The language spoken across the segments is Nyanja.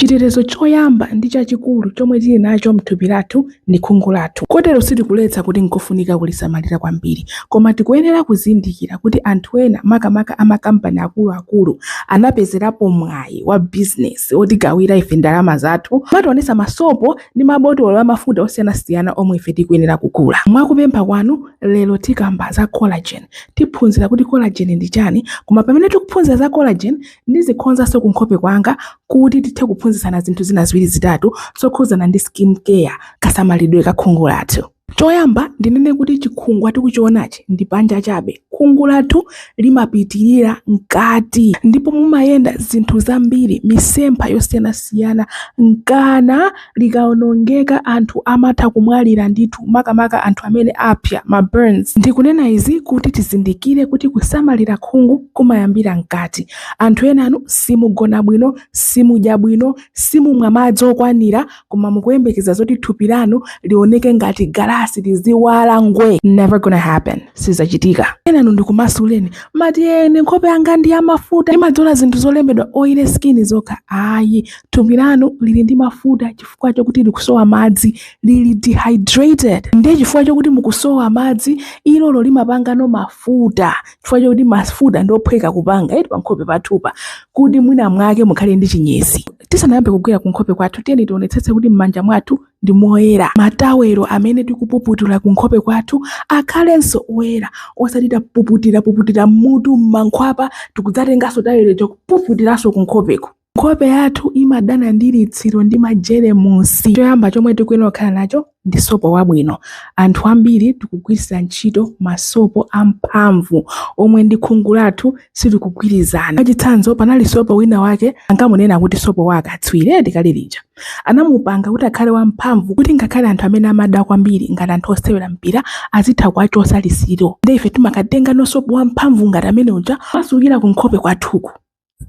Chitetezo choyamba ndi chachikulu chomwe tili nacho m'thupi lathu ndi khungu lathu. Kotero sitikuletsa kuti nkofunika kulisamalira kwambiri. Koma tikuyenera kuzindikira kuti anthu ena, makamaka a makampani akuluakulu, anapezerapo mwayi wa bizinesi wotigawira ife ndalama zathu kumationetsa masopo ndi mabotolo a mafuta osiyanasiyana omwe ife tikuyenera kugula. Mwa kupempha kwanu, lero tikamba za collagen. Tiphunzira kuti collagen ndi chani, koma pamene tikuphunzira za collagen, Ndizikonzanso kunkhope kwanga kuti tithe kuphunzitsana zinthu zina ziwiri zitatu zokhudzana ndi skin care, kasamalidwe ka khungu lathu. Choyamba ndinene kuti chikhungwa tikuchionachi ndi panja chabe. Khungu lathu limapitirira mkati ndipo mumayenda zinthu zambiri, misempha yosiyanasiyana, nkana, likawonongeka anthu amatha kumwalira ndithu makamaka anthu amene apya, ma burns. Ndikunena izi kuti tizindikire kuti kusamalira khungu kumayambira mkati. Anthu enanu simugona bwino, simudya bwino, simumwa madzi okwanira koma mukuyembekeza zoti thupi lanu lioneke ngati galasi liziwala ngwee. Never gonna happen. Sizachitika. Enanu ndikumasuleni, mumati ine nkhope yanga ndi yamafuta, ndimadzola zinthu zolembedwa oily skin zokha. Ayi, thupi lanu lili ndi mafuta chifukwa chokuti likusowa madzi lili dehydrated ndiye chifukwa chokuti mukusowa madzi ilolo limapangano mafuta chifukwa chokuti mafuta ndiophweka kupanga eti pankhope pathupa kuti mwina mwake mukhale ndi chinyezi tisanayambe kugwira kunkhope kwathu tiyeni tionetsetse kuti m'manja mwathu ndi moyera matawelo amene tikupuputira kunkhope kwathu akhalenso oyera osati tapuputira puputira m'mutu m'mankhwapa tikudzatenganso tawelo n'kupuputiranso kunkhopeko Nkhope yathu imadana ndi litsiro ndi majeremusi. Choyamba chomwe tikuyenera kukhala nacho ndi sopo wabwino. Anthu ambiri tikugwiritsa ntchito masopo amphamvu omwe ndi khungu lathu sitikugwirizana. Mwachitsanzo, panali sopo wina wake ankamunena kuti sopo wa akatswiri eti kale lija. Anamupanga kuti akhale wamphamvu kuti ngakhale anthu amene amada kwambiri ngati anthu osewera mpira azitha kuwachotsa litsiro. Ndiye ife timakatengano sopo wamphamvu ngati amene uja kumatsukira kunkhope kwathuku.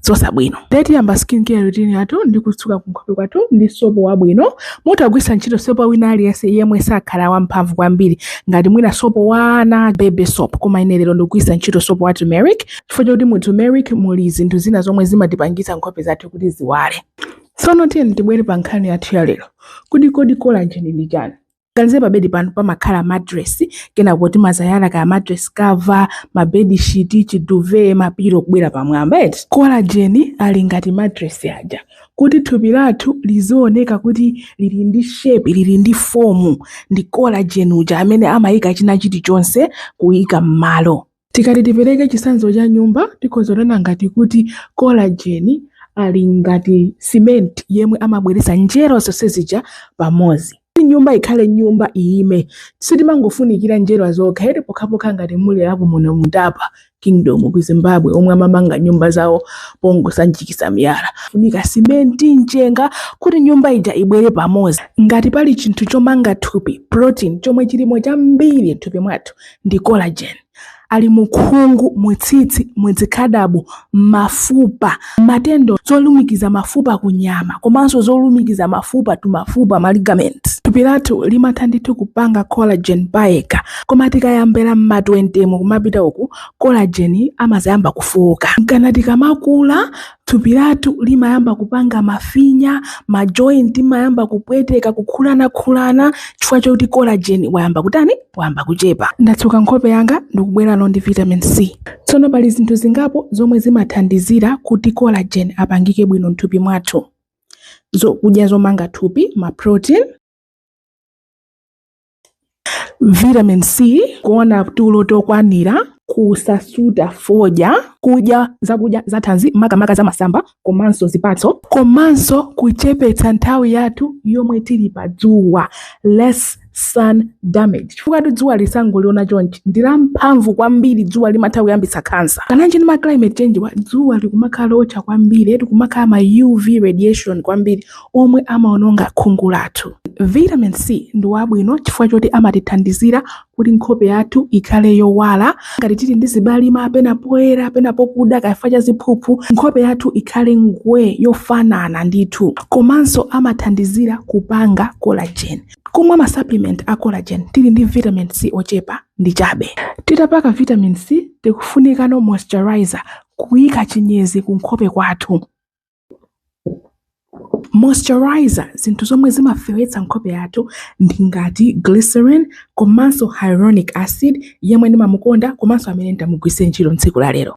zosabwino ndiye tiyamba skin care routine yathu ndi kutsuka kunkhope kwathu ndi sopo wabwino mutha kugwiritsa ntchito sopo wina aliyense yemwe sakhala wamphamvu kwambiri ngati mwina sopo wa ana baby soap koma ine lero ndikugwiritsa ntchito sopo wa turmeric chifukwa chakuti mu turmeric muli zinthu zina zomwe zimatipangitsa nkhope zathu kuti ziwale tsono tiyeni tibwere pa nkhani yathu ya lero kuti kodi collagen ndi chani ganizire pa bedi panu pamakhala mattress kenako timazayala kaya mattress cover ma bed sheet chiduve mapiro kubwera pamwamba eti collagen ali ngati mattress aja kuti thupi lathu lizioneka kuti lili ndi shape lili ndi form ndi collagen uja amene amayika china chilichonse kuyika m'malo Tikati tipereke chitsanzo cha nyumba, tikhoza kunena ngati kuti kolajeni ali ngati simenti yemwe amabweretsa njerwa zonse zija pamodzi. Kuti nyumba ikhale nyumba, iime, sitimangofunikira njerwa zokha eti, pokhapokha ngati muli a ku Monomutapa kingdom ku Zimbabwe omwe amamanga nyumba zawo pongosanjikiza miyala. Pamafunika simenti, mchenga kuti nyumba ija ibwere pamodzi. Ngati pali chinthu chomanga thupi, protein, chomwe chilimo chambiri m'thupi mwathu, ndi collagen ali mu khungu mu tsitsi mu zikhadabo mafupa ma tendon zolumikiza mafupa ku nyama komanso zolumikiza mafupa tu mafupa ma ligament thupi lathu limatha ndithu kupanga collagen payekha koma tikayambira mma 20 mu kumapita uku collagen amazayamba kufuka nkana tikamakula Thupi lathu limayamba kupanga mafinya, ma joint imayamba kupweteka, kukhulanakhulana chifukwa choti collagen wayamba kutani? Wayamba kuchepa. Ndatsuka nkhope yanga ndikubwerano ndi vitamin C. Tsono pali zinthu zingapo zomwe zimathandizira kuti collagen apangike bwino m'thupi mwathu. Zokudya zomanga thupi, ma protein. vitamin c kuona tulo tokwanira kusasuta fodya kudya zakudya zathanzi makamaka za masamba komanso zipatso komanso kuchepetsa nthawi yathu yomwe tili pa dzuwa less sun damage chifukwatu dzuwa musangoliona chonchi ndi lamphamvu kwambiri dzuwa limatha kuyambitsa kansa kananji ndi ma climate change-wa dzuwa likumakhala lootcha kwambiri eti kumakhala ma uv radiation kwambiri omwe amaononga khungu lathu. Vitamin C ndi wabwino chifukwa choti amatithandizira kuti nkhope yathu ikhale yowala. Ngati tili ndi zibalima pena poyera pena pokuda kaya chifukwa cha ziphuphu, nkhope yathu ikhale ngwee yofanana ndithu. Komanso amathandizira kupanga collagen. Kumwa ma supplement a collagen tili ndi vitamin C ochepa ndi chabe. Titapaka vitamin C tikufunikano moisturizer, kuika chinyezi kunkhope kwathu. moisturizer zinthu zomwe zimafewetsa nkhope yathu ndi ngati glycerin komanso hyaluronic acid yemwe ndimamukonda komanso amene ndimugwiritse ntchito tsiku la lero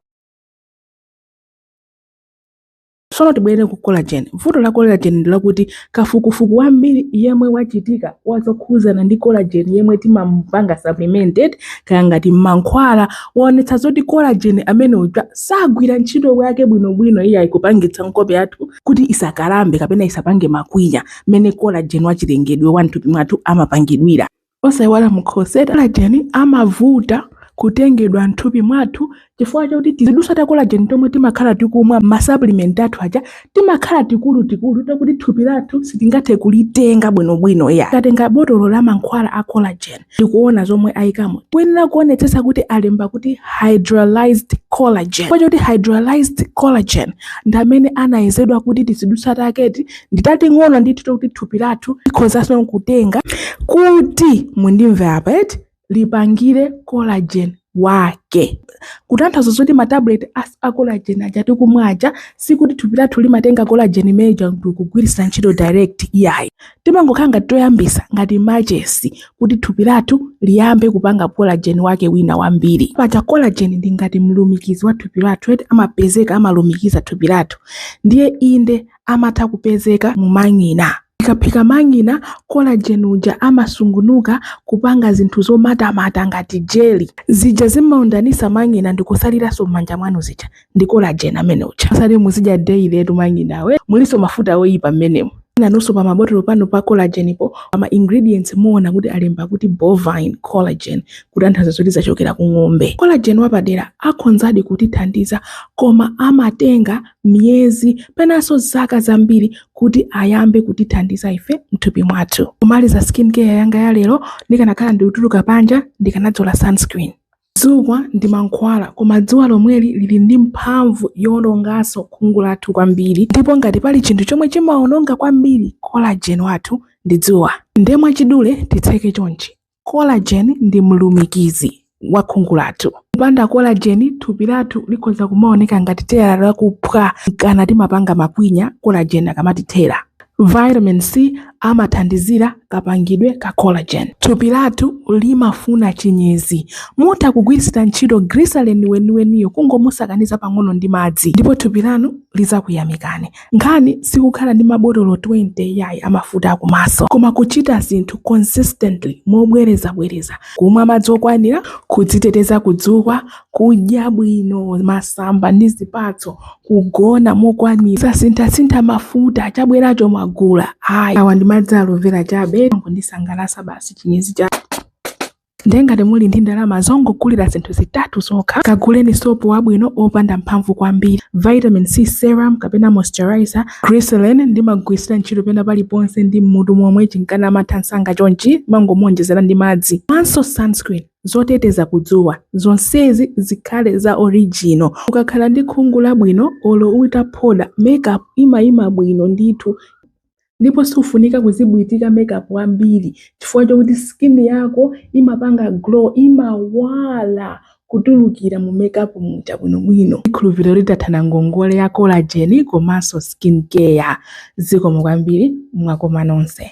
tsono tibwerere ku collagen vuto la collagen ndi lakuti Kafukufuku wambiri yemwe wachitika wa zokhudzana ndi collagen yemwe timamupanga supplemented kaya ngati m'mankhwala waonetsa zoti collagen amene uja sagwira ntchito yake bwinobwino iyayi kupangitsa nkhope yathu kuti isakalambe kapena isapange makwinya mmene collagen wachilengedwe wa mthupi mwathu amapangidwira. osaiwala mkhosi eti collagen amavuta kutengedwa m'thupi mwathu chifukwa chakuti tizidutswa ta collagen tomwe timakhala tikumwa m'masupplement athu aja timakhala tikulutikulu takuti thupi lathu sitingathe kulitenga bwinobwino ya tatenga botolo la mankhwala a collagen tikuona zomwe ayikamo kuyenera kuonetsetsa kuti alemba kuti hydrolyzed collagen chifukwa chakuti hydrolyzed collagen ndi amene anayezedwa kuti tizidutswa taketi ndi tating'ono ndithu takuti thupi lathu likhozanso kutenga kuti mundimve apa eti lipangire collagen wake kutanthauza zoti matablet a collagen aja tikumwa aja sikuti thupi lathu limatenga collagen imeneja kugwiritsa ntchito direct iyayi timangokhala ngati toyambisa ngati machesi kuti thupi lathu liyambe kupanga collagen wake wina wambiri paja collagen ndi ngati mlumikizi wa thupi lathu eti amapezeka amalumikiza thupi lathu ndiye inde amatha kupezeka mu mang'ina. Tikaphika mang'ina, collagen uja amasungunuka kupanga zinthu zomatamata ngati jelly. Zija zimaundanisa mang'ina ndikusaliranso m'manja mwanu zija ndi collagen ameneuja. Osati muzidya daily etu mang'inawo eh. Mulinso mafuta oyipa m'menemo. Nanunso pa mabotolo panu pa collagen po, a ma ingredients muona kuti alemba kuti bovine collagen kutanthauza zoti zachokera ku ng'ombe. Collagen wapadera akhonzadi kutithandiza koma amatenga miyezi penanso zaka zambiri kuti ayambe kutithandiza ife mthupi mwathu kumaliza skin care yanga ya lero ndikanakhala ndikutuluka panja ndikanadzola sunscreen dzuwa ndi mankhwala koma dzuwa lomweli lili ndi mphamvu yowononganso khungu lathu kwambiri ndipo ngati pali chinthu chomwe chimawononga kwambiri collagen wathu ndi dzuwa nde mwachidule titseke chonchi Collagen ndi mlumikizi wa khungu lathu. Kupanda collagen, thupi lathu likhoza kumaoneka ngati tire lakuphwa kana timapanga makwinya collagen akamatithera. Vitamin C amathandizira kapangidwe ka collagen. Thupi lathu limafuna chinyezi. Mutha kugwiritsira ntchito glycerin weniweniyo kungomusakaniza pang'ono ndi madzi ndipo thupi lanu lidzakuyamikani. Nkhani sikukhala ndi mabotolo 20 iyayi a mafuta a kumaso, koma kuchita zinthu consistently, mobwerezabwereza, kumwa madzi okwanira, kudziteteza ku dzuwa, kudya bwino masamba ndi zipatso, kugona mokwanira, kusasinthasintha mafuta, chabweracho mwagula, ayi, awa ndi madzi a Aloe Vera chabe, amangondisangalatsa basi, chinyezi cha. ndiye ngati muli ndi ndalama zongogulira zinthu zitatu zokha kaguleni sopo wabwino opanda mphamvu kwambiri vitamin c serum kapena moisturizer glycerin ndimagwiritsira ntchito pena paliponse ndi mmutu momwe chinkana amatha msanga chonchi mumangomuonjezera ndi madzi komanso sunscreen zoteteza kudzuwa zonsezi zikhale za original ukakhala ndi khungu labwino olo utaphoda makeup imayima bwino ndithu ndipo siufunika kuzibwitika makeup ambiri chifukwa chokuti skin yako imapanga glow imawala kutulukira mu makeup muja bwinobwino ndikhulupirira ndathana ngongole ya collagen komanso skin care zikomo kwambiri mwakoma nonse